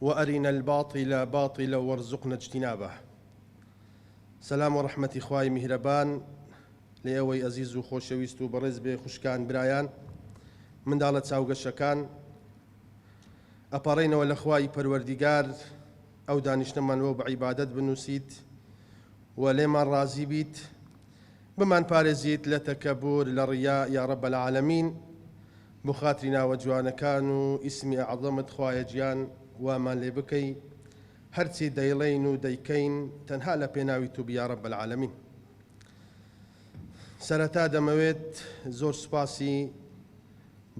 وارنا الباطل باطلا وارزقنا اجتنابه سەلام و ڕەحمەتی خوای میهرەبان لێ ئەوەی ئەزیز و خۆشەویست و بەڕێز بێ خوشکان برایان منداڵە چاوگەشەکان ئەپارڕینەوە لە خوای پەروەردیگار ئەو دانیشتەمان وەو بە عیبادەت بنووسیت و لێمان ڕازی بیت بمان پارێزیت لە تەکەبور لە ڕیا یاڕە بەلعاالەمین بۆ خاتری ناوە جوانەکان و ئیسمی ئەعزەمت خوایە گیان وامان لێ بکەی هەرچی دەیڵێین و دەیکەین تەنها لە پێناوی تو بی یا رب العالمین سەرەتا دەمەوێت زۆر سوپاسی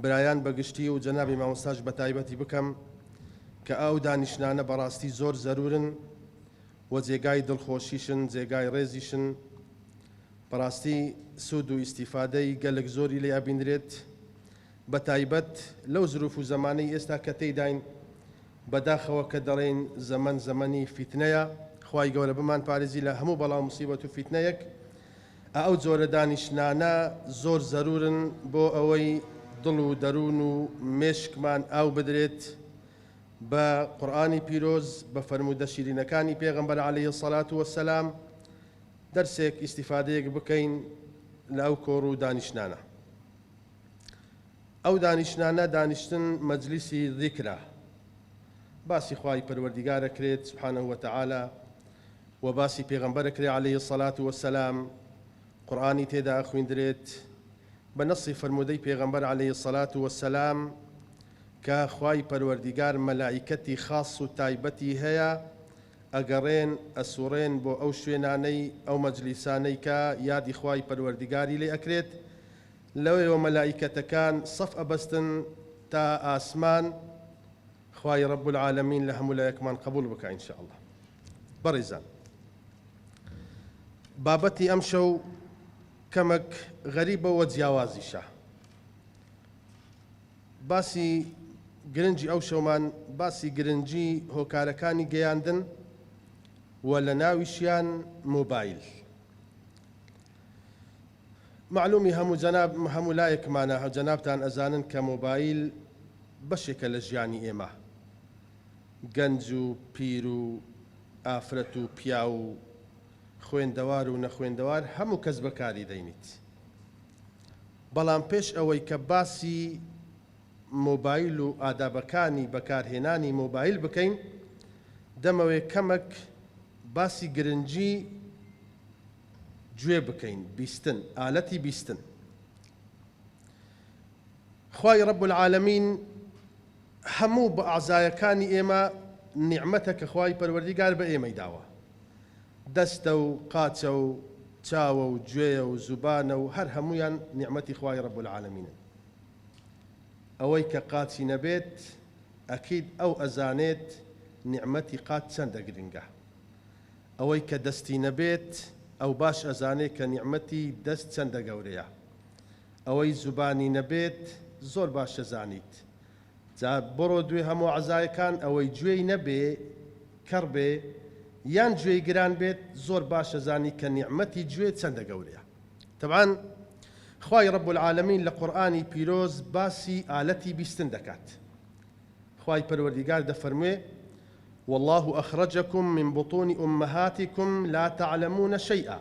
برایان بە گشتی و جەنابی مامۆستاش بە تایبەتی بکەم کە ئەو دانیشتنانە بەڕاستی زۆر زەرورن و جێگای دڵخۆشیشن جێگای ڕێزیشن بەڕاستی سوود و ئیستیفادەی گەلەک زۆری لێ ئەبینرێت بە تایبەت لەو زروف و زەمانەی ئێستا کە تێیداین بەداخەوە کە دەڵێین زەمەن زەمەنی فیتنەیە خوای گەورە بمان پارێزی لە هەموو بەڵا و موسیبەت و فیتنەیەک ئەو جۆرە دانیشتنانە زۆر زەرورن بۆ ئەوەی دڵ و دەروون و مێشکمان ئاو بدرێت بە قورئانی پیرۆز بە فەرموودە شیرینەکانی پێغەمبەر عەلەیهی سەڵات وەسەلام دەرسێک ئیستیفادەیەک بکەین لە ئەو کۆڕ و دانیشتنانە. ئەو دانیشتنانە دانیشتن مەجلیسی ذیکرە. باسی خوای پەروەردیگار ئەکرێت سبحانە وتعالی و باسی پێغەمبەر ئەکرێت علیه الصلاة والسلام قورئانی تێدا ئەخویندرێت بە نەصی فەرموودەی پێغەمبەر علیه الصلاة والسلام کە خوای پەروەردیگار مەلائیکەتی خاص و تایبەتی هەیە ئەگەڕێن ئەسوڕێن بۆ ئەو شوێنانەی ئەو مەجلیسانەی کە یادی خوای پەروەردگاری لێ ئەکرێت لەوێوە مەلائیکەتەکان سەف ئەبەستن تا ئاسمان خوای رب العالمین لە هەموو لایەکمان قبوڵ بکا ان شاء اللە بەڕیزان بابەتی ئەم شەو کەمەک غەریبە وە جیاوازیشە باسی گرنگی ئەو شەومان باسی گرنگی هۆکارەکانی گەیاندن و لە ناویشیان مۆبایل معلومی هەموو جەناب هەموو لایەکمانە هەو جەنابتان ئەزانن کە مۆبایل بەشێکە لە ژیانی ئێمە گەنج و پیر و ئافرەت و پیا و خوێندەوار و نەخوێندەوار هەموو کەس بەکاری دەینیت بەڵام پێش ئەوەی کە باسی مۆبایل و ئادابەکانی بەکارهێنانی مۆبایل بکەین، دەمەوێ کەمەک باسی گرنگی گوێ بکەین، بیستن، ئالەتی بیستن. خوای رب العالمین هەموو بەعزایەکانی ئێمە نیعمەتە کە خوای پەروەردیگار بە ئێمەی داوە. دەستە و قاچە و چاوە و گوێیە و زوبانە و هەر هەموویان نیعمەتی خوای رب العالمینن ئەوەی کە قاچی نەبێت ئەکید ئەو ئەزانێت نیعمەتی قاچ چەندە گرنگە ئەوەی کە دەستی نەبێت ئەو باش ئەزانێت کە نیعمەتی دەست چەندە گەورەیە ئەوەی زوبانی نەبێت زۆر باش ئەزانیت جا بڕۆ دوێ هەموو عەزایەکان ئەوەی گوێی نەبێ کەڕ بێ یان گوێی گران بێت زۆر باش ئەزانی کە نیعمەتی گوێ چەندە گەورەیە تەبعەن خوای رب العالمین لە قورئانی پیرۆز باسی ئالەتی بیستن دەکات خوای پەروەردیگار دەفەرموێ واللە اخرجکم من بطون امهاتکم لا تعلمون شیئا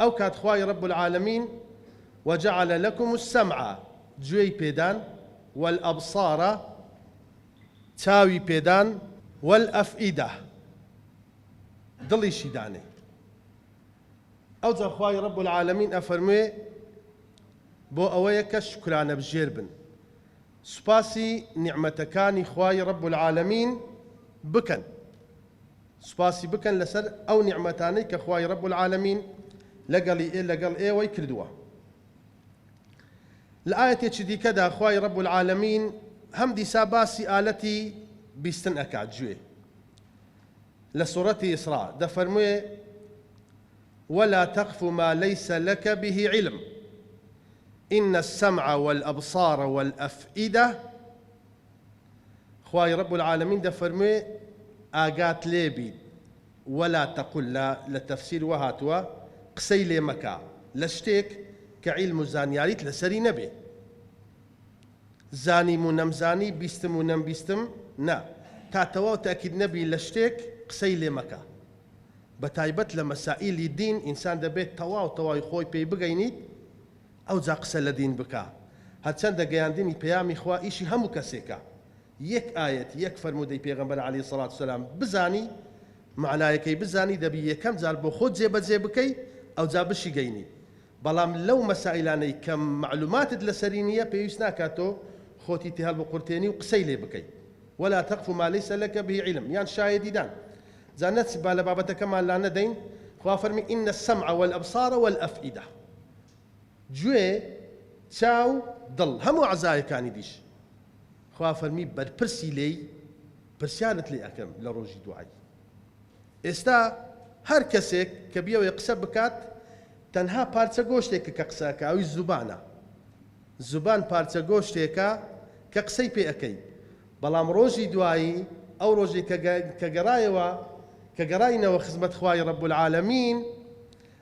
ئەو کات خوای رب العالمین وجعل لکم السمع گوێی پێدان والابصار چاوی پێدان والافئدە دڵیشی دانێ ئەوجا خوای رب العالمین ئەفەرموێ بۆ ئەوەیە کە شوکرانە بژێر بن سوپاسی نیعمەتەکانی خوای رب العالمین بکەن سوپاسی بکەن لەسەر ئەو نیعمەتانەی کە خوای رب العالمین لەگەڵی ئێ لەگەڵ ئێوەی کردووە لە ئایەتێکی دیکەدا خوای رب العالمین هەم دیسا باسی ئالەتی بیستن ئەکات جوێ لە سوڕەتی ئیسرا دەفەرموێ ولا تقف ما ليس لك به علم إن السمع والأبصار والأفئدة خوای رب العالمین دەفەرموێ ئاگات لێ بیت ولا تقل لە لە تەفسیر وا هاتووە قسەی لێ مەکە لە شتێک کە عیلم و زانیاریت لەسەری نەبێ زانیم و نەمزانی بیستم و نەمبیستم نا تا تەواو تاکید نەبی لە شتێک قسەی لێ مەکە بەتایبەت لە مەسائیلی دین ئینسان دەبێت تەواو تەواوی خۆی پێی بگەینیت ئەوجا قسە لە دین بکە هەرچەندە گەیاندنی پەیامی خوا ئیشی هەموو کەسێکە یەک ئایەت یەک فەرموودەی پێغەمبەر علی سڵات وسلام بزانی مەعنایەکەی بزانی دەبی یەکەم جار بۆ خۆت جێبەجێ بکەی ئەوجا بشیگەینی بەڵام لەو مەسائیلانەی کە مەعلوماتت لەسەری نییە پێویست ناکات تۆ خۆتی تێ هەڵبقورتێنی و قسەی لێ بکەی ولا تقف ما ليس لك به علم یان شایەدی دان جا نەچ با لە بابەتەکەمان لا نەدەین خوا فەرمی ان السمع والابصار والافئده گوێ، چاو، دڵ، هەموو عەزایەکانی دیش خوا فەرمی بەرپرسی لێی پرسیارت لێ ئەکەم لە ڕۆژی دوای. ئێستا هەر کەسێک کە بیەوێ قسە بکات تەنها پارچە گۆشتێکە کە قسە ئەکا ئەویش زوبانە. زوبان پارچە گۆشتێکە کە قسەی پێ ئەکەی. بەڵام ڕۆژی دوایی ئەو ڕۆژەی کە گەڕایەوە کە گەڕاینەوە خزمەت خوای رب العالمین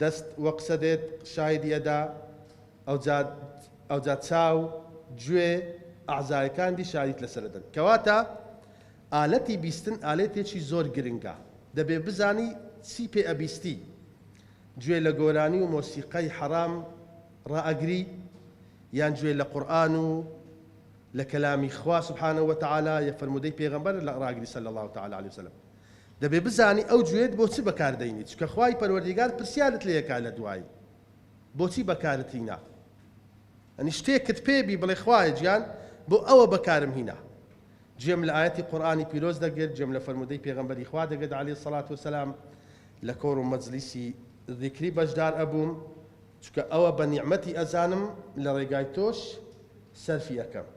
دەست وە قسە دێت شاهیدی ئەدا ئەوجا ئەوجا چاو گوێ ئەعزایەکان دی شاهیدیت لەسەر ئەدەن کەواتە ئالەتی بیستن ئالەتێکی زۆر گرنگە دەبێ بزانی چی پێ ئەبیستی گوێ لە گۆرانی و مۆسیقای حەرام ڕائەگری یان گوێ لە قورئان و لە کەلامی خوا سبحانە وتعالی یە فەرموودەی پێغەمبەر ڕاگری صلی اللە تعالی علیە وسلم دەبێ بزانی ئەو گوێت بۆ چ بەکار دەینی چونکە خوای پەروەردیگار پرسیارت لێکا لە دوایی بۆچی بەکارت هینا ئەنی شتێکت پێ بی بڵێ خوایە گیان بۆ ئەوە بەکارم هینا جێم لە ئاەتی قورآانی پیرۆز دەگرت جێم لە فەرمودەی پێغمبەری خوا دەگرت علی سەلات وسلام لە کۆڕ و مەجلیسی ذیکری بەشدار ئەبووم چکە ئەوە بە نیعممەتی ئەزانم لە ڕێگای تۆش سەرفی ئەەکەم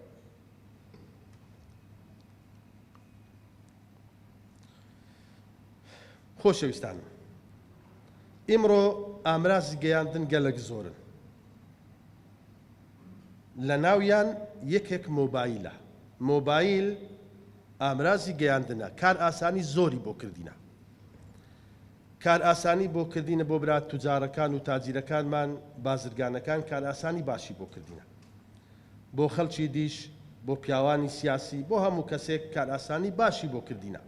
خۆشەویستانم ئیمڕۆ ئامرازی گەیاندن گەلەک زۆرن لە ناویان یەکێک مۆبایلە مۆبایل ئامرازی گەیاندنە کار ئاسانی زۆری بۆ کردینە کار ئاسانی بۆ کردینە بۆ برات توجارەکان و تاجیرەکانمان بازرگانەکان کار ئاسانی باشی بۆ کردینە بۆ خەلکی دیش بۆ پیاوانی سیاسی بۆ هەموو کەسێک کارئاسانی باشی بۆ کردینە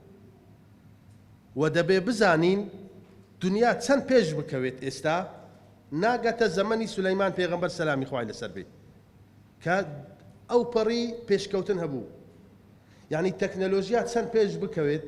وە دەبێ بزانین دنیا چەند پێش بکەوێت ئێستا ناگەتە زەمەنی سولەیمان پێغەمبەر سەلامی خوای لەسەر بێت کە ئەو پەڕی پێشکەوتن هەبوو یعنی تەکنەلۆژیا چەند پێش بکەوێت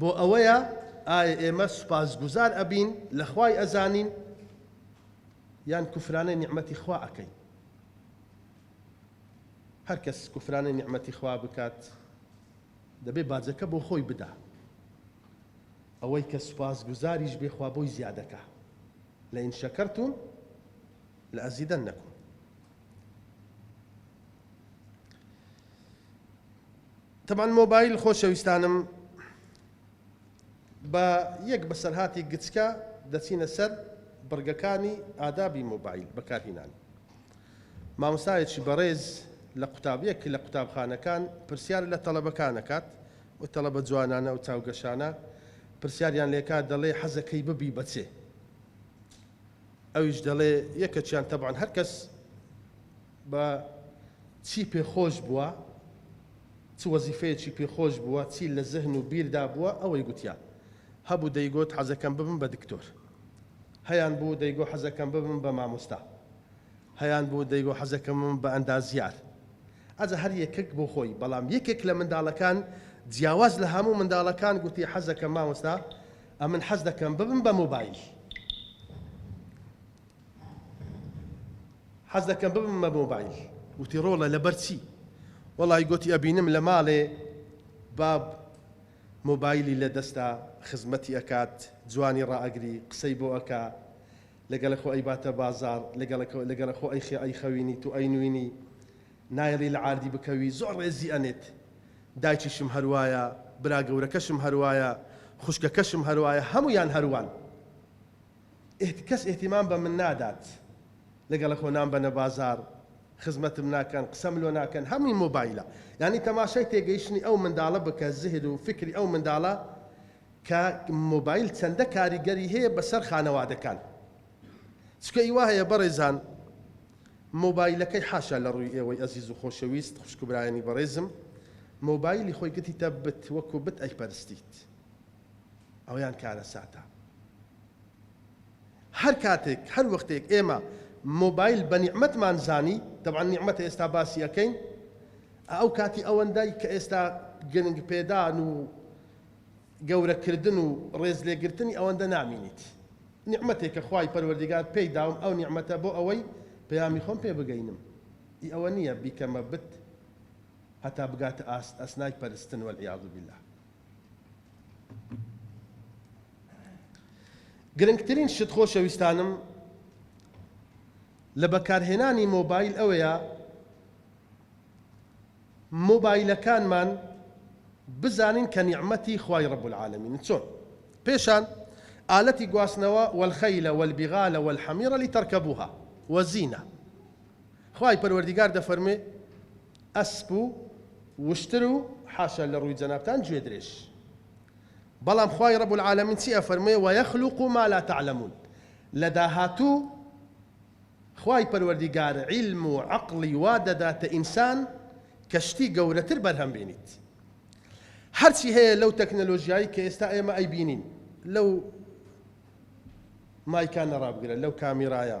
بۆ ئەوەیە ئایا ئێمە سوپاسگوزار ئەبین لە خوای ئەزانین یان کوفرانەی نیعمەتی خوا ئەکەین هەر کەس کوفرانەی نیعمەتی خوا بکات دەبێ باجەکە بۆ خۆی بدا ئەوەی کە سوپاس گوزاریش بێخوا بۆی زیادەکە لە ئین شەکەرتون لە ئەزیدەن نەکوم تەبعەن مۆبایل خۆشەویستانم بە یەک بەسەرهاتی گچکە دەچینە سەر بڕگەکانی ئادابی مۆبایل بەکارهینان مامۆستایەکی بەڕێز لە قوتابیەک لە قوتابخانەکان پرسیار لە تەڵەبەکانەکات و تەڵەبە جوانانە و چاوگەشانە پرسیاریان لێکا دەڵێ حەزەکەی ببی بەچێ ئەویش دەڵێ یەکەچیان تەبان هەرکەس بە چی پێ خۆش بووە، چ وەزیفەیەکی پێ خۆش بووە، چی لە زهن و بیردا بووە، ئەوەی گوتیە. هەبوو دەیگوت حەزەکەم ببم بە دکتۆر. هەیان بوو دەیگو حەزەکەم ببم بە مامۆستا. هەیان بوو دەیگو حەزەکەم ببم بە ئەندازیار. ئەزا هەر یەکەک بۆ خۆی، بەڵام یەکێک لە منداڵەکان جیاواز لە هەموو منداڵەکان گوتی حەزەکەم مامۆستا، ئەمن حەز دەکەم ببم بە مۆبایل. حەز دەکەم ببم بە مۆبایل. وتی ڕۆڵە لەبەر چی؟ وەڵای گۆتی ئەبینم لە ماڵێ باب مۆبایلی لە دەستە خزمەتی ئەکات جوانی ڕائەگری قسەی بۆ ئەکا لەگەڵ خۆ ئەیباتە بازاڕ لەگەڵ خۆ ئەیخە ئەیخەوینی تو ئەینوینی نایەڵی لە عاردی بکەوی زۆر ڕێزی ئەنێت دایکیشم هەروایە برا گەورەکەشم هەروایە خوشکەکەشم هەروایە هەموویان هەروان کەس ئیهتیمام بە من نادات لەگەڵ خۆ نامبەنە بازاڕ خزمەتم ناکەن قسەم لۆ ناکەن هەمووی مۆبایلە یانی تەماشای تێگەیشتنی ئەو منداڵە بکە زهر و فکری ئەو منداڵە کە مۆبایل چەندە کاریگەری هەیە بەسەر خانەوادەکان چکە ای وا هەیە بەڕێزان مۆبایلەکەی حاشا لە ڕووی ئێوەی ئەزیز و خۆشەویست خوشک و برایانی بەڕێزم مۆبایلی خۆی گرتیتە بت وەکو بت ئەیپەرستیت ئەویان کارەساتە. هەر کاتێک هەر وەختێک ئێمە مۆبایل بە نیعمەتمان زانی، تەبعەن نیعمەتە ئێستا باسی ئەکەین، ئەو کاتی ئەوەندەی کە ئێستا گرنگ پێدان و گەورە کردن و ڕێز لێ گرتنی ئەوەندە نامینیت. نیعمەتێکە خوای پەروەردیگار پێی داوم ئەو نیعمەتە بۆ ئەوەی پەیامی خۆم پێ بگەینم ئی ئەوە نییە بیکەمە بت هەتا بگاتە ئاست ئەسنای پەرستن والعیاذ باللە. گرنگترین شت خۆشەویستانم لە بەکارهێنانی مۆبایل ئەوەیە مۆبایلەکانمان بزانین کە نیعمەتی خوای رب العالمین چۆن پێشان ئالەتی گواستنەوە والخیل والبغال والحمیر لترکبوها وزینە خوای پەروەردیگار دەفەرمێ ئەسپ و وشتر و حاشا لە ڕووی جەنابتان گوێ درێژ بەڵام خوای رب العالمین چی ئەفەرموێ ویخلق ما لا تعلمون لە داهاتوو خوای پەروەردیگار عیلم و عەقڵی وا دەداتە ئینسان کە شتی گەورەتر بەرهەم بینیت هەرچی هەیە لەو تەکنەلۆژیایی کە ئێستا ئێمە ئەیبینین لەو مایکانە ڕابگرە لەو کامیرایە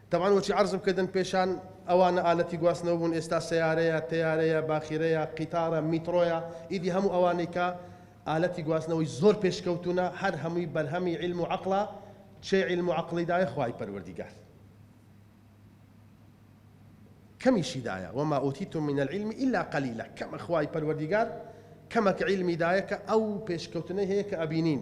تەبعەن وەچی عەرزم کردن پێشان ئەوانە ئالەتی گواستنەوە بوون ئێستا سەیارەیە، تەیارەیە، باخیرەیە، قیتارە، میتڕۆیە ئیدی هەموو ئەوانەی کە ئالەتی گواستنەوەی زۆر پێشکەوتوونە هەر هەمووی بەرهەمی عیلم و عەقڵە چێ عیلم و عەقڵی دایە خوای پەروەردیگار کەمیشی دایە وما ئوتیتم من العلم الا قلیلا کەمە خوای پەروەردیگار کەمەک عیلمی دایە کە ئەو پێشکەوتنەی هەیە کە ئەبینین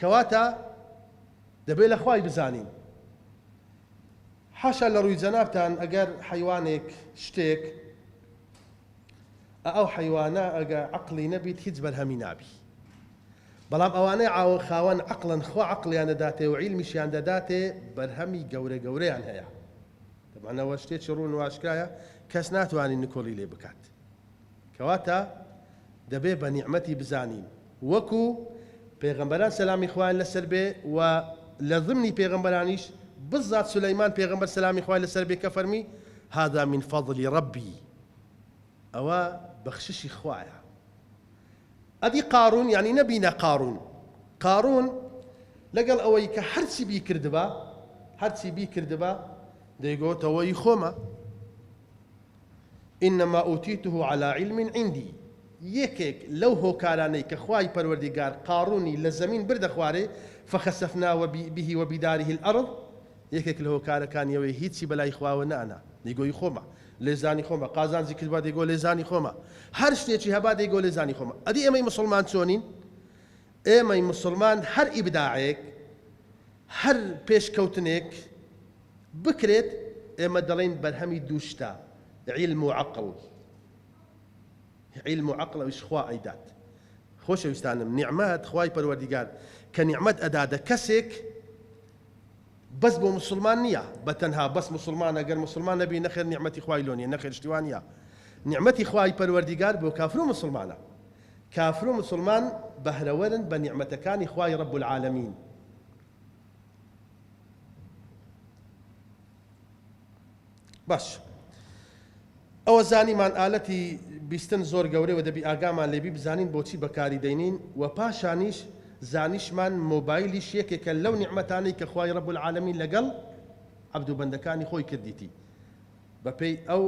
کەواتە دەبێ لە خوای بزانین. حاشا لە ڕووی جەنابتان ئەگەر حەیوانێک شتێک ئە ئەو حەیوانە ئەگە عەقڵی نەبیت هیچ بەرهەمی نابی بەڵام ئەوانەی عاوە خاوەن عەقڵن خوا عەقڵیان دەداتێ و عیلمیشیان دەداتێ بەرهەمی گەورە گەورەیان هەیە دەمانەوە شتێکی ڕوون و ئاشکرایە کەس ناتوانین نکۆڵی لێ بکات. کەواتە دەبێ بە نیعمەتی بزانین وەکو پێغەمبەران سەلامی خوایان لەسەر بێ و لە ضمنی پێغەمبەرانیش بزات سولەیمان پێغەمبەر سەلامی خوای لەسەر بێ کە فەرمی، هذا من فضل ربی، ئەوە بەخششی خوایە. ئەدی قارون یانی نەبینە قارون، قارون لەگەڵ ئەوەی کە هەرچی بیکردبا هەرچی بیکردبا دەیگۆتەوە ئی خۆمە، انما اوتیته علی علم عندی یەکێک لەو هۆکارانەی کە خوای پەروەردیگار قاڕوونی لە زەمین بردە خوارێ فخسفنا به وبداره الارض یەکێک لە هۆکارەکانی ئەوەی هیچی بەلای خواوە نانا دەیگۆی خۆمە لێزانی خۆمە قازانجی کردبا دەیگۆ لێزانی خۆمە هەر شتێکی هەبا دەیگۆ لێزانی خۆمە ئەدی ئێمەی مسلمان چۆنین ئێمەی مسلمان هەر ئیبداعێک هەر پێشکەوتنێک بکرێت ئێمە دەڵێین بەرهەمی دوو شتە، عیلم و عەقڵ. عیلم و عەقڵ ئەویش خوا ئەیدات. خۆشەویستانم نیعمەت خوای پەروەردیگار کە نیعمەت ئەدادە کەسێک بەس بۆ موسڵمان نییە بە تەنها بەس موسڵمانە گەر موسڵمان نەبی نەخێر نیعمەتی خوای لۆ نییە نەخێر شتیوا نییە نیعمەتی خوای پەروەردیگار بۆ کافر و موسڵمانە. کافر و مسوڵمان بەهرەوەرن بە نیعمەتەکانی خوای رب العالمین. باشە ئەوە زانیمان ئالەتی بیستن زۆر گەورەی و دەبی ئاگامان لێبی بزانین بۆچی بەکاری دەینین و پاشانیش زانیشمان مۆبایلیش یەکێکە لەو نیعمەتانەی کە خوای رب العالمین لەگەڵ عەبد و بەندەکانی خۆی کردیتی. بەپێی ئەو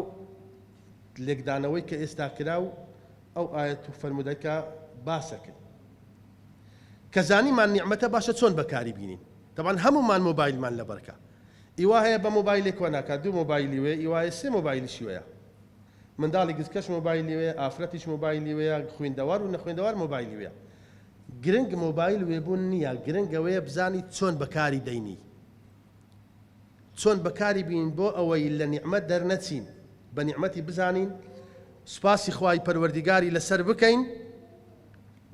لێکدانەوەی کە ئێستا کرا و ئەو ئایەت و فەرموودە کە باسە کرد کە زانیمان نیعمەتە باشە چۆن بەکاری بینین تەبان هەمومان مۆبایلمان لەبەرکە ئیوا هەیە بە مۆبایلێک وە ناکات دوو مۆبایلی وێ ئیوایە سێ مۆبایلیشی وەیە منداڵی گزکەش مۆبایلی وێ ئافرەتیش مۆبایلی وەیە خوێندەوار و نەخوێندەوار مۆبایلی وێ گرنگ مۆبایل وێبوون نییە گرنگەوەیە بزانی چۆن بەکاری دەینی چۆن بەکاری بینین بۆ ئەوەی لە نیعمەت دەرنەچین بە نیعمەتی بزانین سوپاسی خوای پەروەردیگاری لەسەر بکەین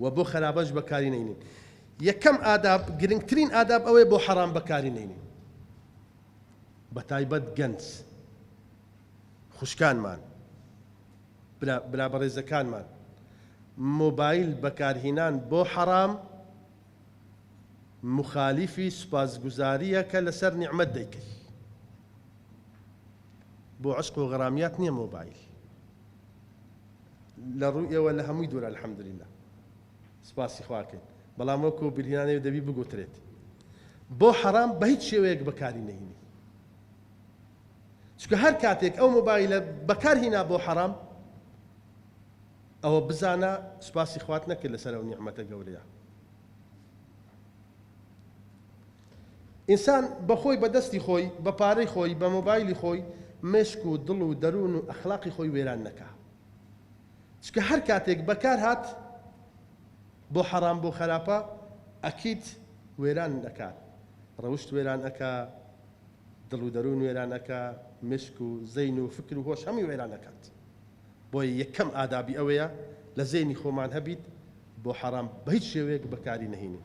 و بۆ خەرابەش بەکاری نەینین یەکەم ئاداب گرنگترین ئاداب ئەوەی بۆ حەرام بەکاری نەینین بە تایبەت گەنج خوشکانمان برا بەڕێزەکانمان مۆبایل بەکارهینان بۆ حەرام موخالیفی سوپاسگوزاریەکە لەسەر نیعمەت دەیکرد بۆ عەشق و غەرامیات نیە مۆبایل لە ڕووی ئێوە لە هەمووی دوورە الحمدللە سوپاسی خواکەین بەڵام وەکو بیرهێنانەوە دەبی بگوترێت بۆ حەرام بە هیچ شێوەیەک بەکاری نەهینی چونکە هەر کاتێک ئەو مۆبایلە بەکار هینا بۆ حەرام ئەوە بزانە سوپاسی خوات نەکرد لەسەر ئەو نیعمەتە گەورەیە. ئینسان بەخۆی بە دەستی خۆی، بە پارەی خۆی، بە مۆبایلی خۆی مێشک و دڵ و دەروون و ئەخلاقی خۆی وێران نەکا. چونکە هەر کاتێک بەکار هات بۆ حەڕام بۆ خەراپە ئەکید وێران ئەکات. ڕەوشت وێران ئەکا، دڵ و دەروون وێران ئەکا، مێشک و زەین و فکر و هۆش هەمووی وێران ئەکات. بۆیە یەکەم ئادابی ئەوەیە لە زەینی خۆمان هەبیت بۆ حەرام بە هیچ شێوەیەک بەکاری نەهینین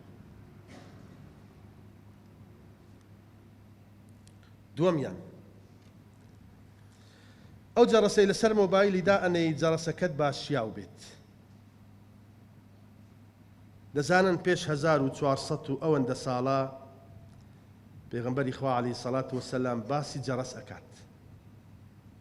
دووەمیان ئەو جەڕەسەی لەسەر مۆبایلی دا ئەنەی جەڕەسەکەت با شیاو بێت دەزانن پێش 1400 و ئەوەندە ساڵە پێغمبەری خوا علی سەڵات وسلام باسی جەڕەس ئەکات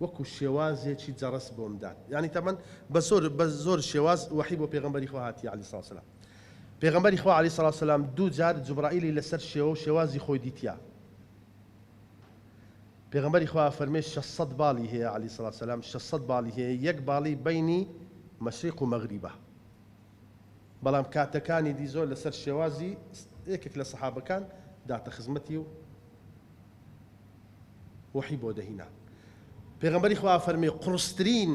وەکو شێوازێکی جەڕەس بۆم دات یانی تەمەن بەسۆر بە زۆر شێواز وەحی بۆ پێغمبەری خوا هاتی علی ساسلام پێغمبەری خوا علی ساسلام دوو جار جوبرائیلی لەسەر شێوە و شێوازی خۆی دیتیا پێغمبەری خوا فەرمێ 600 باڵی هەیە علی ساسلام 600 باڵی هەیە یەک باڵی بینی مەشریق و مەغریبە بەڵام کاتەکانی دی زۆر لەسەر شێوازی یەکێک لە سەحابەکان داتە خزمەتی و وەحی بۆ دەهینا. پێغەمبەری خوا فەرمی، قوڕسترین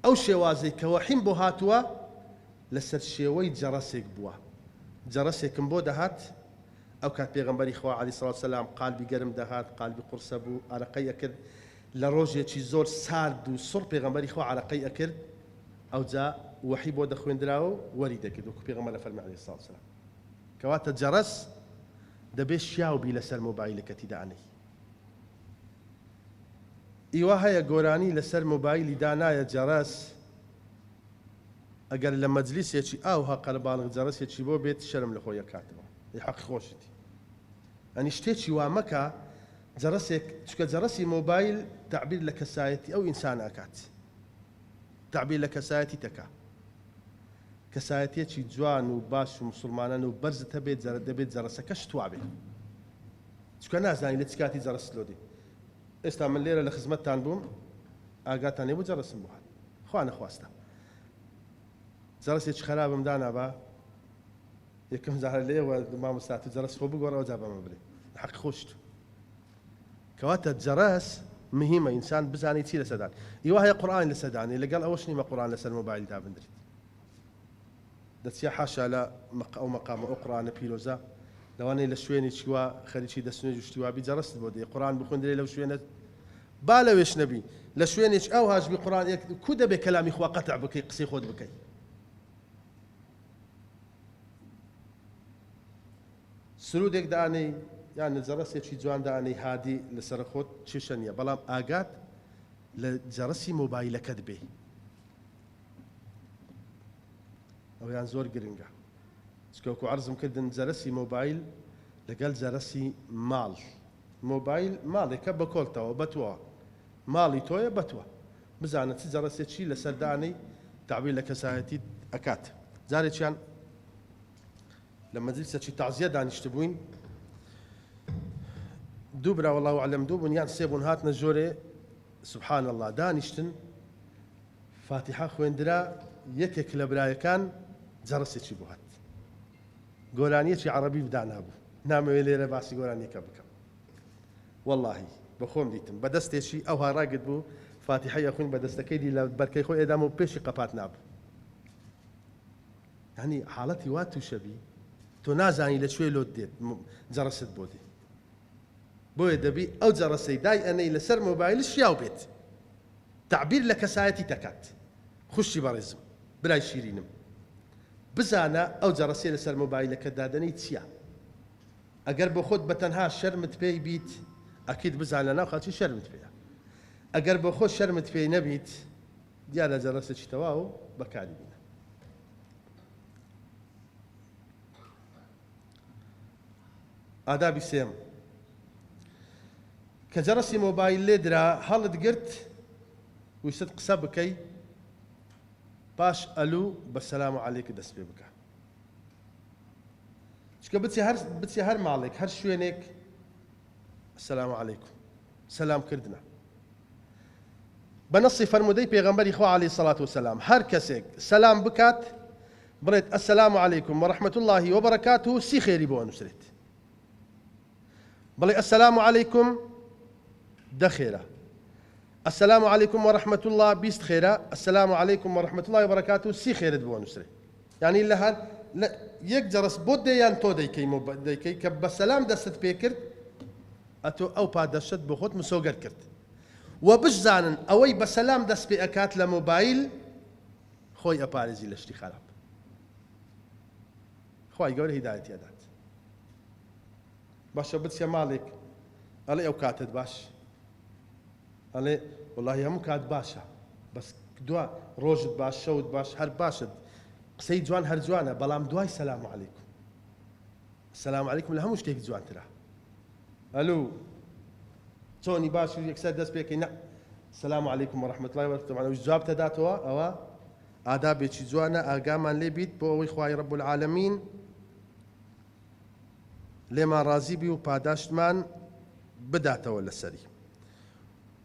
ئەو شێوازەی کە وەحیم بۆ هاتووە لەسەر شێوەی جەڕەسێک بووە، جەڕەسێکم بۆ دەهات، ئەو کات پێغەمبەری خوا علی سڵاو سلام قالبی گەرم دەهات، قالبی قوڕسە بوو، ئارەقەی ئەکرد، لە ڕۆژێکی زۆر سارد و سوڕ پێغەمبەری خوا ئارەقەی ئەکرد، ئەوجا وەحی بۆ دەخوێندراوە و وەری دەگرت، وەکو پێغەمبەر ئەفەرمێ علی سڵاو سلام. کەواتە جەڕەس. دەبێ شیاو بی لەسەر مۆبایلەکەتی دانەی. ئیوا هەیە گۆرانی لەسەر مۆبایلی دانایە جەرەس ئەگەر لە مەجلیسێکی ئاوها قەرەباڵغ جەرەسێکی بۆ بێت شەرم لەخۆی ئەکاتەوە ئەی حەق خۆشتی ئەنی شتێکی وا مەکە جەرەسێک چکە جەرەسی مۆبایل تەعبیر لە کەسایەتی ئەو ئینسانە ئەکات تەعبیر لە کەسایەتی تەکا. کەسایەتیەکی جوان و باش و موسڵمانەن و بەرزت هەبێ جەرە دەبێ جەرەسەکەشت توابێ چونکە نازانی لە چ کاتی جەرەست لۆ دێ ئێستا من لێرە لە خزمەتتان بووم ئاگاتان لێ بوو جەرەسم بۆ هات خوا نەخواستە جەرەسێکی خەرابم دانابا یەکەم جارە لێوە مامۆستا تو جەرەس خۆ بگۆڕەوە جا بەمە بلێ حەق خۆشت کەواتە جەرەس مهیمە ئینسان بزانێ چی لەسەر دان ی واهەیە قورئانی لەسەر دانێ لەگەڵ ئەوەش نیمە قورئان لەسەر مۆبایل دابندریت دەچیە حاشا لە مەق ئەو مەقامە ئەو قورئانە پیرۆزە لەوانەیە لە شوێنێکی وا خەریکی دەست نوێژ و شتی وا بی جەرەست بۆ دێ قورئان بخوێندرێ لەو شوێنە با لەوێش نەبی لە شوێنێک ئەوهاش بی قورئان یەک کو دەبێ کەلامی خوا قەتع بکەی قسەی خۆت بکەی سرودێک دانێی یان نجەڕەسێکی جوان دانێی هادی لەسەر خۆت کێشە نیە بەڵام ئاگات لە جەڕەسی مۆبایلەکەت بێ ئەویان زۆر گرنگە چکەوکو عرزم کردن جەرەسی مۆبایل لەگەل جەرەسی ماڵ مۆبایل ماڵێکە بەکۆلتەوە بەتوە ماڵی تۆیە بەتوە بزانە چ جەڕەسێکی لەسەردانەی داوی لە کەسایەتی ئەکات جارێکیان لە مەجلیسەکی تەعزیە دانیشتبووین، دوو برا واللە اعلم دوو بوون یان سێ بوون هاتنە ژۆرێ سبحان اللە دانیشتن فاتیحە خوێندرا یەکێک لە برایەکان جەڕسێکی بۆ هات گۆرانیەکی عەڕەبی بدانابوو نامەوێ لێرە باسی گۆرانیەکە بکەم واللهی بەخۆم دیتم بە دەستێکی ئەوها ڕاگرت بوو فاتیحە یەخوین بە دەستەکەی دی لە بەرکەی خۆ ئێدام و پێشی قەپات نابوو یانی حاڵەتی وات توشەبی تۆ نازانی لە کوێ لۆت دێت جەڕەست بۆ دێ بۆیە دەبی ئەو جەڕەسەی دای ئەنەی لەسەر مۆبایلت شیاو بێت تەعبیر لە کەسایەتیت ئەکات خوشکی بەڕێزم برای شیرینم بزانە ئەو جەڕەسەی لەسەر مۆبایلەکەت دادەنێی چیە ئەگەر بۆ خۆت بە تەنها شەرمت پێی بیت ئەکید بزان لە ناو خەڵکی شەرمت پێیە ئەگەر بۆ خۆت شەرمت پێی نەبیت دیا لە جەرەسێکی تەواو بەکاری بینە. ئادابی سێم کە جەرەسی مۆبایل لێ درا هەڵت گرت ویستت قسە بکەی پاش ئەلو بە سەلام و عەلێک دەست پێ بکە چکە بچی هەر بچی هەر ماڵێک هەر شوێنێک سلام علیکم سلام کردنە بە نەصی فەرموودەی پێغەمبەری خوا علی سڵات و سلام هەر کەسێک سلام بکات بڵێت السلام علیکم ورحمت اللە وبرکاته سی خێری بۆ ئەنووسرێت بڵێ السلام علیکم دە خێرە السلام علیکم ورحمت اللە بیست خێرە السلام علیکم ورحمت اللە وبرکاته سی خێرت بۆ ئەنووسرێت یانی لە هەر لە یەک جەرس بۆ دەیان تۆ دەیکەی مۆ دەیکەی کە بە سەلام دەستت پێ کرد ئەتۆ ئەو پادەشت بۆ خۆت مسۆگەر کرد وە بشزانن ئەوەی بە سەلام دەست پێ ئەکات لە مۆبایل خۆی ئەپارێزی لە شتی خەراپ خوای گەورە هیدایەتی ئەدات باشە بچە ماڵێک ئەڵێ ئەو کاتت باش ئەڵێ وەڵاهی هەموو کات باشە بەس دوا ڕۆژت باش شەوت باش هەر باشت قسەی جوان هەر جوانە بەڵام دوای سەلام علیکم سەلام علیکم لە هەموو شتێک جوانترە ئەلو چۆنی باش و یەکسەر دەست پێکەی نە سلام علیکم و رحمت الله و رحمت جواب تداتەوە ئەوە ئادابێکی جوانە ئاگامان لێ بیت بۆ ئەوەی خوای رب العالمین لێمان ڕازی بی و پاداشتمان بداتەوە لەسەری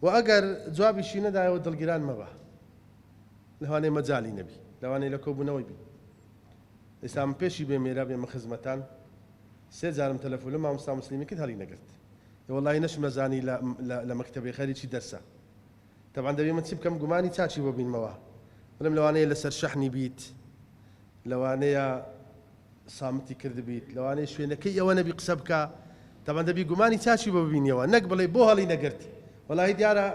و ئەگەر جوابیشی نەدایەوە دڵگیران مەبە لەوانەیە مەجالی نەبی لەوانەیە لە کۆبوونەوەی بی ئێستا من پێشی بێ مێرا بێمە خزمەتان سێ جارم تەلەفۆن لە مامۆستا مسلیمی کرد هەڵی نەگرت وەڵی نەشم نەزانی لە مەکتەبی خەریکی دەرسە تەبعەن دەبێ من چ بکەم گومانی چاکی بۆ بینمەوە بلم لەوانەیە لەسەر شەحنی بیت لەوانەیە سامتی کردبیت لەوانەیە شوێنەکەی ئەوە نەبی قسە بکە تەبەن دەبی گومانی چاکی بۆ ببینیەوە نەک بڵێ بۆ هەڵی نەگرت وەڵی دیارە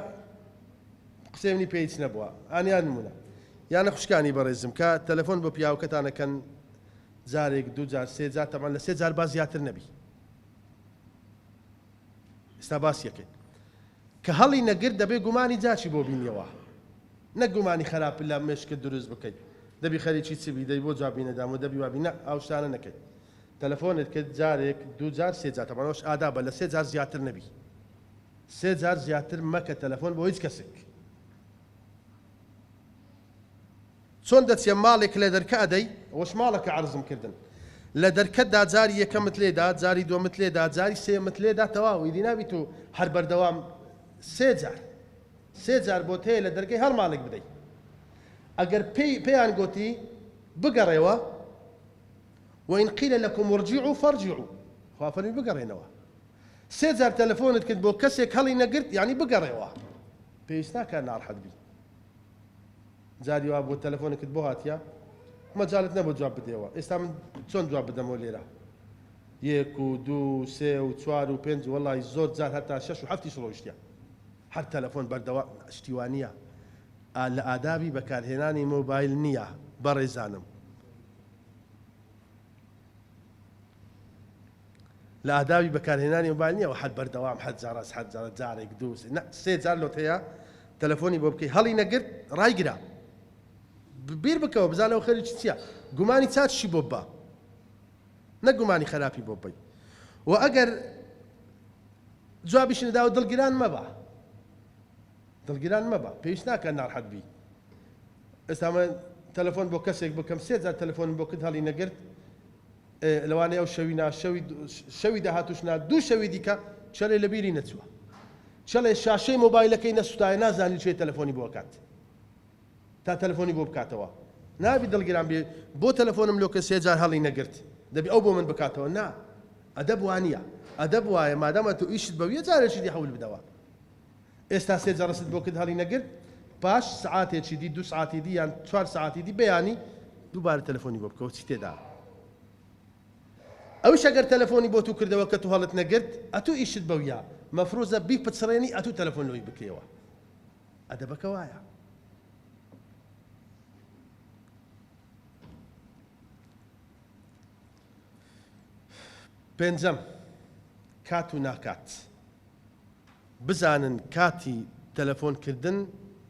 قسەی منی پێیچ نەبووە ئانیان نمونە یانە خوشکانی بەڕێزم کە تەلەفۆن بۆ پیاوکەتانەکەن جارێک دوو جار سێ جار تەمان لە سێ جار با زیاتر نەبی ئستا باس یەکەین کە هەڵی نەگرت دەبێ گومانی جاچی بۆ بینیەوە نەک گومانی خەراپ لە مێشکت دروست بکەی دەبی خەریکی چ بی دەی بۆ جوابی نەدام و دەبی وابی نە ئەو شتانە نەکەی تەلەفۆنت کرد جارێک دوو جار سێ جار تەبعەن ئەوەش ئادابە لە سێ جار زیاتر نەبی سێ جار زیاتر مەکە تەلەفۆن بۆ هیچ کەسێک. چۆن دەچیە ماڵێک لە دەرکە ئەدەی ئەوەش ماڵەکە عەرزم کردن لە دەرکەت دا جاری یەکەمت لێدا جاری دوەمت لێدا جاری سێیەمت لێدا تەواو ئیدی نابی تۆ هەر بەردەوام سێ جار سێ جار بۆت هەیە لە دەرکەی هەر ماڵێک بدەی ئەگەر پێی پێیان گۆتی بگەڕێوە وإن قيل لكم ارجعوا فارجعوا خوا فەرمی بگەڕێنەوە سێ جار تەلەفۆنت کرد بۆ کەسێک هەڵی نەگرت یعنی بگەڕێوە پێویست ناکات ناڕحەت بیت جاری وا بووە تەلەفۆنێکت بۆ هاتیە مەجالت نەبوو جواب بدەیەوە ئێستا من چۆن جواب بدەمەوە لێرە یەک و دوو و سێ و چوار و پێنج وەڵی زۆر جار هەتا شەش و هەفتیش ڕۆیشتە هەر تەلەفۆن بەردەوا شتیوانە لە ئادابی بەکارهێنانی مۆبایل نییە بەڕێزانم لە ئادابی بەکارهێنانی مۆبایل نیە وحەد بەردەوام حەد جار ئەس حەد جار جارێک دوو سێ نە سێ جار لۆت هەیە تەلەفۆنی بۆ بکەی هەڵی نەگرت ڕایگرە بیر بکەوە بزانە ئەو خەریکی چیە گومانی چاکشی بۆ بە نە گومانی خەراپی بۆ بی و ئەگەر جوابیش نەداوە دڵگران مەبە دڵگران مەبە پێویست ناکە ناڕحەت بی ئێستا من تەلەفۆن بۆ کەسێک بکەم سێ جار تەلەفۆن بۆ کرد هەڵی نەگرت ئێ لەوانەیە ئەو شەوی نا، شەوی شەوی داهاتووش نا، دوو شەوی دیکە چەلێ لە بیری نەچووە. چەلێ شاشەی مۆبایلەکەی نەسووتایە نازانی چێ تەلەفۆنی بۆ ئەکات. تا تەلەفۆنی بۆ بکاتەوە. نابی دڵگران بێ، بۆ تەلەفۆنم لۆ کە سێ جار هەڵی نەگرت. دەبی ئەو بۆ من بکاتەوە. نا. ئەدەب وا نییە. ئەدەب وایە مادام ئەتۆ ئیشت بەویە جارێکی دی حەول بدەوە. ئێستا سێ جەرەست بۆ کرد هەڵی نەگرت پاش سەعاتێکی دی دوو سەعاتی دی یان چوار سەعاتی دی بەیانی دووبارە تەلەفۆنی بۆ بکەوە چی تێدا ئەوش ئەگەر تەلەفۆنی بۆ تو کردەوە کە تو هەڵت نەگرت ئەتو ئیشت بەویا مەفروزە بی پچڕێنی ئەتو تەلەفۆن لۆی بکەیەوە ئەدەبەکە وایە پێنجەم کات و ناکات بزانن کاتی تەلەفۆن کردن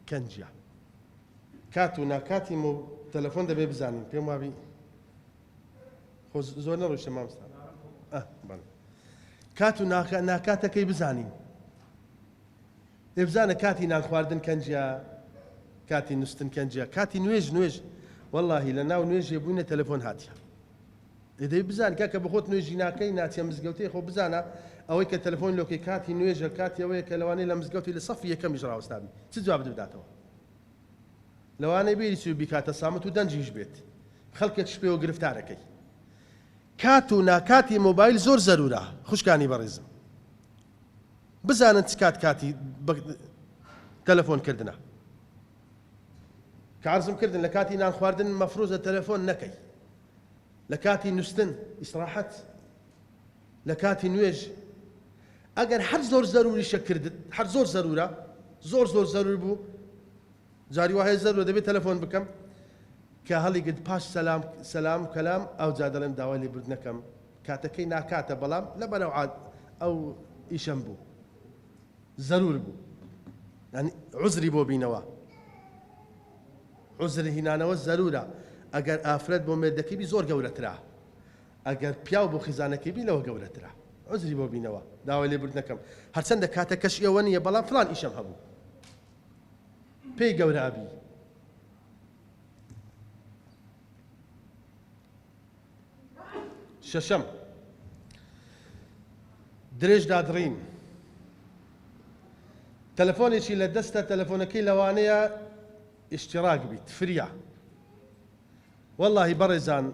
کەنجیە کات و ناکاتی مۆ تەلەفۆن دەبێ بزانین پێم وابی خۆ زۆر نەڕۆشتە مامستا کات و ناکاتەکەی بزانین ئێبزانە کاتی نان خواردن کەنجە کاتی نوستن کەنجە کاتی نوێژ نوێژ واللهی لە ناو نوێژێ بووینە تەلەفۆن هاتیە دەی بزان کاکە بە خۆت نوێژی ناکەی ناچیە مزگەوتێ خۆ بزانە ئەوەی کە تەلەفۆن لۆکەی کاتی نوێژە کاتی ئەوەیە کە لەوانەیە لە مزگەوتی لە سەفی یەکەمیش ڕاوەستابی چ جوابت بداتەوە لەوانەیە بێری چوی بیکاتە سامت و دەنجیش بێت خەڵکێک شپێوە گرفتارەکەی کات و ناکاتی مۆبایل زۆر زەرورە خوشکانی بەڕێزم بزانن چ کات کاتی تەلەفۆن کردنە کارزم کردن لە کاتی نان خواردن مەفروزە تەلەفۆن نەکەی لە کاتی نوستن، ئیسراحەت، لە کاتی نوێژ ئەگەر هەر زۆر زەروریشە کردت هەر زۆر زەرورە زۆر زۆر زەرور بوو جاری وهەیە زەرو دەبێت تەلەفۆن بکەم کە هەڵی گرت پاش سەسلام سەسلام کەلام ئەو جا دەڵێم داوای لێ برد نەکەم کاتەکەی ناکاتە بەڵام لە بەرەو عاد ئەو ئیشەم بوو زەرور بوو عزری بۆ بینەوە عوزر هینانەوە زەرورە ئەگەر ئافرەت بۆ مێردەکەی بی زۆر گەورەترە ئەگەر پیاو بۆ خیزانەکەی بی لەوە گەورەترە عوزری بۆ بینەوە داوای لێ بردن نەکەم هەرچەندە کاتە کەش ئێوە نیە بەڵام فلان ئیشم هەبوو پێی گەورە ئەبی شەشەم، درێژدادڕین. تەلەفۆنێکی لە دەستە تەلەفۆنەکەی لەوانەیە ئیشتیڕاک بیت، فریا. وەڵاهی بەڕێزان،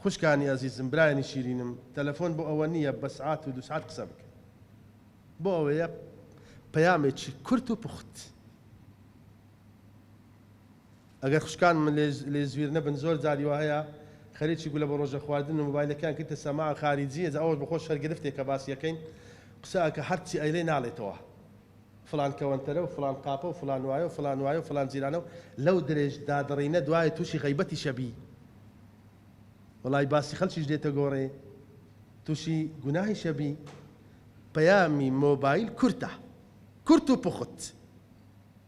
خوشکانی ئەزیزم، برایانی شیرینم، تەلەفۆن بۆ ئەوە نییە بە سعات و دوو سعات قسە بکەین. بۆ ئەوەیە پەیامێکی کورت و پوخت. ئەگەر خوشکانم لێی زویر نەبن زۆر جاری وا هەیە خەریکی گولە بە ڕۆژە خواردن و مۆبایلەکەیان کردتە سەما خاریجی ئێجا ئەوەش بەخۆ شەر گرفتێک کە باسی ئەکەین قسە ئەکا هەرچی ئەیڵێ ناڵێتەوە فڵان کەوەنتەرە و فڵان قاپە و فڵان وایە و فڵان وایە و فڵان جیرانە و لەو درێژ دادڕینە دوایە تووشی غەیبەتیش ئەبی وەڵای باسی خەڵکیش دێتە گۆڕێ تووشی گوناهیش ئەبی پەیامی مۆبایل کورتە کورت و پوخت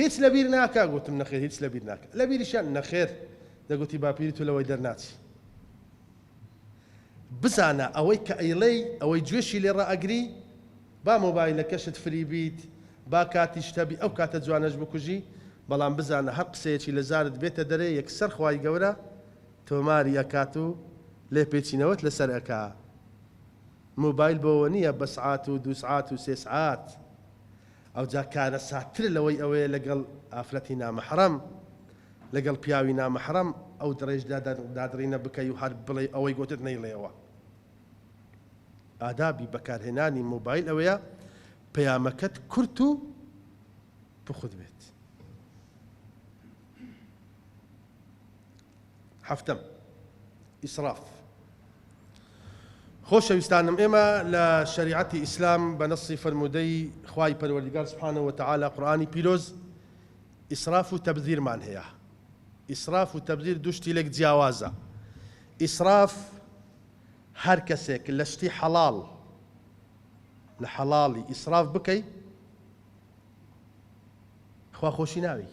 هیچ لەبیر ناکا؟ گوتم، نەخێر هیچ لەبیر ناکا. لەبیریشیان، نەخێر، دەگوتی، باپیری تۆ لەوەی دەرناچی. بزانە، ئەوەی کە ئەیڵێی، ئەوەی گوێشی لێ ڕائەگری، با مۆبایلەکەشت فری بیت، با کاتیشت هەبی، ئەو کاتە جوانەش بکوژی، بەڵام بزانە هەر قسەیەکی لە زارت بێتە دەرێ، یەکسەر خوای گەورە تۆماری ئەکات و لێپێچینەوەت لەسەر ئەکا. مۆبایل بۆوە نییە بە سعات و دوو سعات و سێ سعات. ئەوجا کارەساتترە لەوەی ئەوەیە لەگەڵ ئافرەتی نامەحرەم، لەگەڵ پیاوی نامەحرەم ئەو دڕێژ دادڕینە بکەی و هەر بڵێی ئەوەی گۆتت نەیڵێیەوە. ئادابی بەکارهێنانی مۆبایل ئەوەیە پەیامەکەت کورت و پوخت بێت. حەفتەم، ئیسراف. خۆشەویستانم ئێمە لە شەریعەتی ئیسلام بە نەصی فەرموودەی خوای پەروەردیگار سبحانە وتعالی قورئانی پیرۆز ئیسراف و تەبذیرمان هەیە. ئیسراف و تەبذیر دوو شتی لێک جیاوازە. ئیسراف هەر کەسێک لە شتی حەڵاڵ لە حەڵاڵی ئیسراف بکەی خوا خۆشی ناوێی.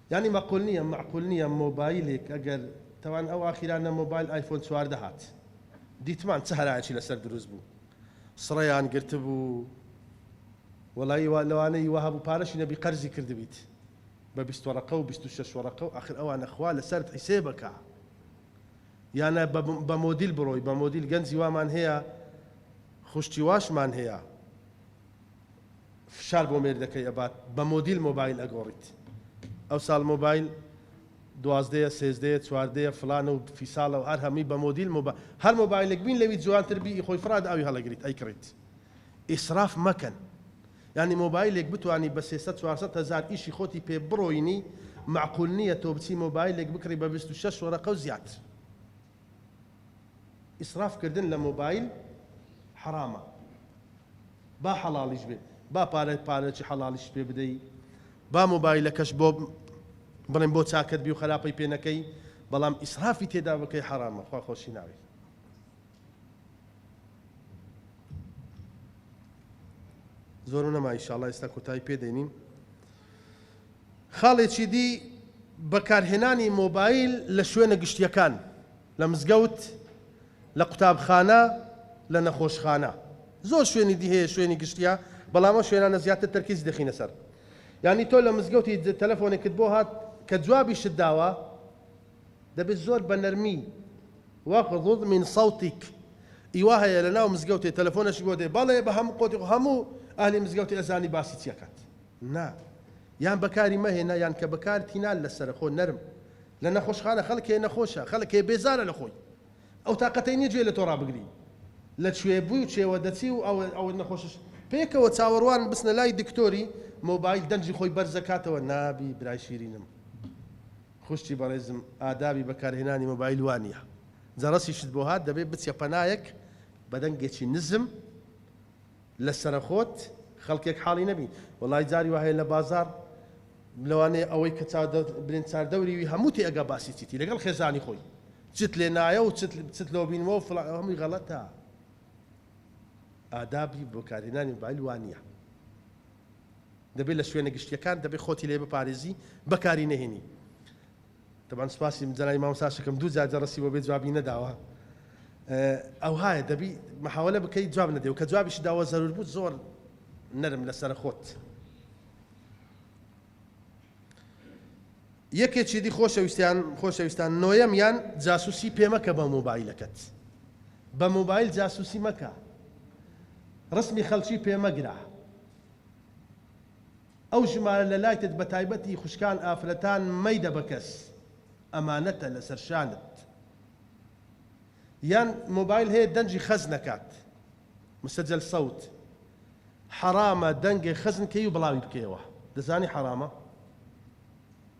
یانی مەقول نیە مەعقول نیە مۆبایلیک ئەگەر تەوان ئەو ئاخیرانە مۆبایل ئایفۆن چواردە هات دیتمان چ هەرایەکی لەسەر دروست بوو سڕەیان گرتبوو وەڵایی وا لەوانەی وا هەبوو پارەشی نەبی قەرزی کردبیت بە بیست وەڕەقە و بیست و شەش وەڕەقە و ئاخر ئەوانە خوا لەسەرت حیسێبەکا یانە بە بە مۆدیل بڕۆی بە مۆدیل گەنجی وامان هەیە خوشکی واشمان هەیە فشار بۆ مێردەکەی ئەبات بە مۆدیل مۆبایل ئەگۆڕیت ئەوساڵ مۆبایل دوازدەیە سێزدەیە چواردەیە فلانە و فیساڵە و هەر هەمووی بە مۆدیل مۆبا هەر مۆبایلێک بین لەوی جوانتر بی خۆی فراد ئەوی هەڵەگریت ئەیکڕیت ئیسراف مەکەن ینی مۆبایلێک بتانی بە 300 400 هزار ئیشی خۆتی پێ بڕۆینی معقول نییە تۆ بچی مۆبایلێک بکڕی بە 26 وەرەقە و زیاتر ئیسراف کردن لە مۆبایل حەرامە با حەڵاڵیش بێت با پارە پارەکی حەڵاڵیش پێ بدەی با مۆبایلەکەش بۆ بڵێن بۆ چاکت بی و خراپەی پێ نەکەی بەڵام ئیسرافی تێدا بکەی حەرامە خوا خۆشی ناوێت زۆر نەما ئیشاڵا ئێستا کۆتایی پێدەینین خاڵێکی دی، بەکارهێنانی مۆبایل لە شوێنە گشتییەکان، لە مزگەوت، لە قوتابخانە، لە نەخۆشخانە. زۆر شوێنی دی هەیە شوێنی گشتییە، بەڵام ئەو شوێنانە زیاتر تەرکیزی دەخینە سەر. یانی تۆ لە مزگەوتی تەلەفۆنێکت بۆ هات، کە جوابیشت داوە، دەبێت زۆر بە نەرمی، واغضض من صوتک، ی وا هەیە لە ناو مزگەوتێ تەلەفۆنەشی بۆ دێ، بەڵێ بە هەموو قۆتی خۆ هەموو ئەهلی مزگەوتێ ئەزانی باسی چی ئەکات. نا یان بەکاری مەهێنە یان کە بەکارت هینا لەسەرە خۆ نەرم لە نەخۆشخانە خەلک هەیە نەخۆشە خەلک هەیە بێزارە لە خۆی ئەو تاقەتەی نیە گوێ لە تۆ رابگری لە کوێ بوی و چێوە دەچی و ئەوە ئەوە نەخۆشش پێکەوە چاوەروان بچنە لای دکتۆری مۆبایل دەنگی خۆی بەرزەکاتەوە نابی برای شیرینم خوشکی بەڕێزم ئادابی بەکارهێنانی مۆبایل وانیە جەرەسیشت بۆ هات دەبێ بچە پەنایەک بەدەنگێکی نزم لەسەرەخۆت خەڵکێک حاڵی نەبی وەڵای جاری واهەیە لەبازاڕ لەوانەیە ئەوەی کە چاودەرت برێن چاردەوری وی هەموو تێ ئەگا باسی چیتی لەگەڵ خێزانی خۆی چت لێ نایە و چت چت لۆ بینمەوە و فڵان ئەوە هەمووی غەڵەتە ئادابی بەکارهێنانی مۆبایل وا نییە دەبێ لە شوێنە گشتیەکان دەبێ خۆتی لێ بپارێزی بەکاری نەهێنی. تەبعەن سپاسی جەنابی مامۆستاشەکەم دوو جار جەڕەسی بۆ بێ جوابی نەداوە ئەوهایە دەبی محاولە بکەی جواب نەدەی و کە جوابیش داوە زەرور بوو زۆر نەرم لەسەر خۆت یەکێکی دی خۆشەویستیان خۆشەویستان نۆیەم یان جاسوسی پێمەکە بە مۆبایلەکەت بە مۆبایل جاسوسی مەکە ڕسمی خەڵکی پێمەگرە ئەو ژمارە لە لایتت بە تایبەتی خوشکان ئافرەتان مەیدە بە کەس ئەمانەتە لەسەر شانت یان مۆبایل هەیە دەنگی خەز نەکات مسجل صوت حەرامە دەنگێ خەزن کەی و بڵاوی بکەیەوە دەزانی حەرامە؟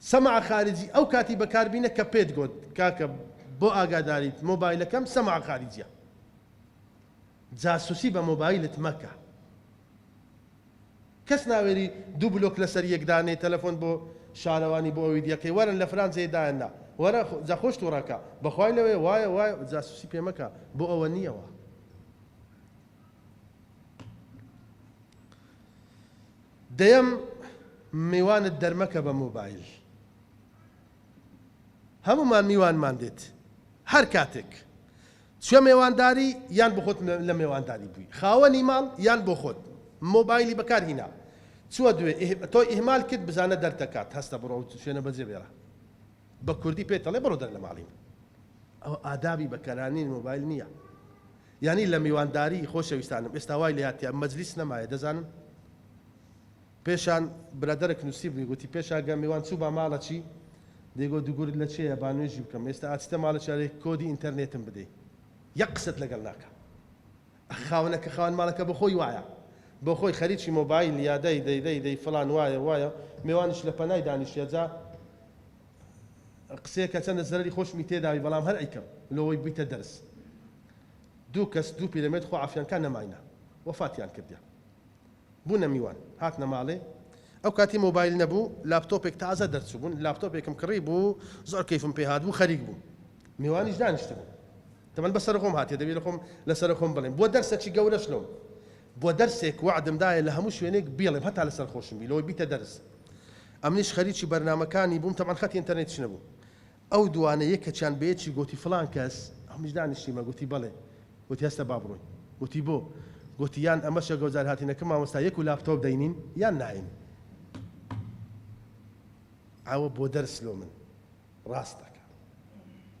سمع خارجی ئەو کاتی بەکار بینە کە پێت گۆت کاکە بۆ ئاگاداریت مۆبایلەکەم سمع خارجیە جاسوسی بە مۆبایلت مەکە کەس ناوێری دوو بلۆک لەسەر یەک دانێ تەلەفۆن بۆ شارەوانی بۆ ئەوی دیەکەی وەرن لە فلان جێ دایان نا وەرە جا خۆش توڕەکە بەخوای لەوێ وایە وای جاسوسی پێ مەکە بۆ ئەوە نیەوە دەیەم، میوانت دەرمەکە بە مۆبایل. هەموومان میوانمان دێت. هەر کاتێک چووە مێوانداری یان بۆ خۆت لە مێوانداری بووی، خاوەنی ماڵ یان بۆ خۆت مۆبایلی بەکار هینا، چووە دوێ تۆی ئیهمال کرد بزانە دەرد دەکات، هەستە بڕۆ و شوێنە بەجێ بێڵە. بە کوردی پێت ئەڵێ بڕۆ دەر لە ماڵیم. ئەوە ئادابی بەکارهێنانی مۆبایل نییە. یانی لە میوانداری خۆشەویستانم ئێستا وای لە یاد تیا مەجلیس نەمایە دەزانن پێشان برادەرەک نوسیبوی گوتی پێشا گە میوان چوو با ماڵە چی دەیگۆ دوگورت لە چێە با نوێژی بکەم ئێستا ئاچتە ماڵە چارێک کۆدی ئینتەرنێتم بدەی یەک قسەت لەگەڵ ناکە خاونە کە خاوەن ماڵەکە بە خۆی وایە بۆ خۆی خەریکی مۆبایل یا دەی دەی دەی دەی فلان وایە وایە میوانش لە پەنای دانیشە جا قسەیەکە چەندە زەرری خۆشمی تێداوی بەڵام هەر ئەیکەم لەوەی بویتە دەرس دوو کەس دوو پیرەمێرد خۆ عەفیان کا نەماینە وەفاتیان کردیە بونە میوان هاتنە ماڵێ ئەو کاتی مۆبایل نەبوو لاپتۆپێک تازە دەرچوو بون لاپتۆپێکم کڕی بوو زۆر کەیفم پێ هات بوو خەریک بوو میوانیش دانیشت بوو دەمەن بە سەرخۆم هاتێ دەبی لە خۆم لە سەر خۆم بڵێم بۆ دەرسە چی گەورەش لۆم بۆ دەرسێک وعدم دایە لە هەموو شوێنێک بیڵێم هەتا لە سەر خۆشم بی لەوەی بیتە دەرس ئەمنیش خەریکی بەرنامەکانی بووم تەبعەن خەتی ئینتەرنێتیش نەبوو ئەو دووانە یەکەکیان بە یەکی گۆتی فڵان کەس، هەمیش دانیشتیمە، گۆتی بەڵێ، گۆتی هەستە با بڕۆین، گۆتی بۆ؟ گۆتی یان ئەمەشە گەو جار هاتینە کە مامۆستا یەک و لاپتۆپ دەینین یان ناین. ئەوە بۆ دەرس لۆ من ڕاست دەکا.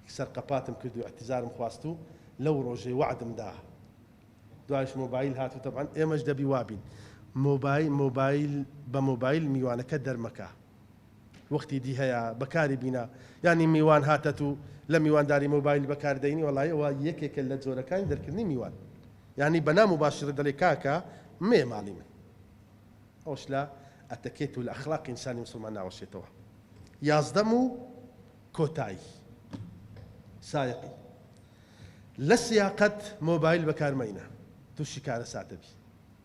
یەکسەر قەپاتم کرد و ئیعتیزارم خواست و لەو ڕۆژەی وەعدم دا. دوایش مۆبایل هات و تەبعەن ئێمەش دەبی وا بین. مۆبای مۆبایل بە مۆبایل میوانەکە دەرمەکە. وەختی دی هەیە بەکاری بینە یانی میوان هاتەت و لە میوانداری مۆبایل بەکار دەینی وەڵای ئەوە یەکێکە لە جۆرەکانی دەرکردنی میوان یانی بە نا موباشرە دەلێ کاکە مەیە ماڵی من ئەوش لە ئەتەکێت و لە ئەخلاقی ئینسانی مسلمان ناوەشێتەوە یازدەم و کۆتایی سایقی لە سیاقەت مۆبایل بەکارمەینە تووشی کارەساتەبی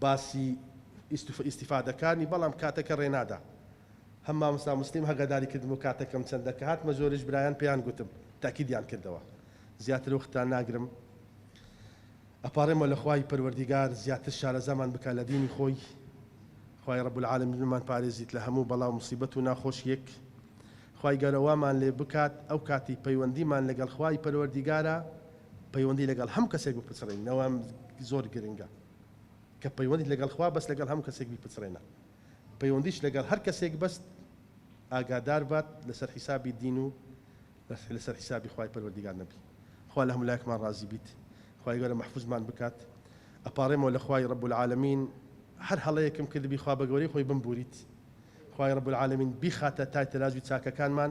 باسی ئیستیفادەکانی بەڵام کاتەکە ڕێنادا هەم مامۆستا موسلیم هەگاداری کردم و کاتەکەم چەندە کە هاتمە زۆریش برایان پێیان گوتم تاکیدیان کردەوە زیاتر وەختتان ناگرم ئەپاڕێمەوە لە خوای پەروەردیگار زیاتر شارەزامان بکا لە دینی خۆی خوای رب العالمین بمان پارێزیت لە هەموو بەڵا و موسیبەت و ناخۆشیەک خوای گەورە وامان لێ بکات ئەو کاتی پەیوەندیمان لەگەڵ خوای پەروەردیگارە پەیوەندی لەگەڵ هەم کەسێک بپچڕێنەوە زۆر گرنگە کە پەیوەندیت لەگەڵ خوا بەس لەگەڵ هەموو کەسێک بیپچڕێنە پەیوەندیش لەگەڵ هەر کەسێک بەست ئاگادار بات لەسەر حیسابی دین و لەسەر حیسابی خوای پەروەردگار نەبی خوا لە هەموو لایەکمان ڕازی بیت خوای گەورە محفوظمان بکات ئەپارێمەوە لە خوای رب العالمین هەر هەڵەیەکم کردبی خوا بە گەورەی خۆی بمبوریت خوای رب العالمین بیخاتە تای تەلازوی چاکەکانمان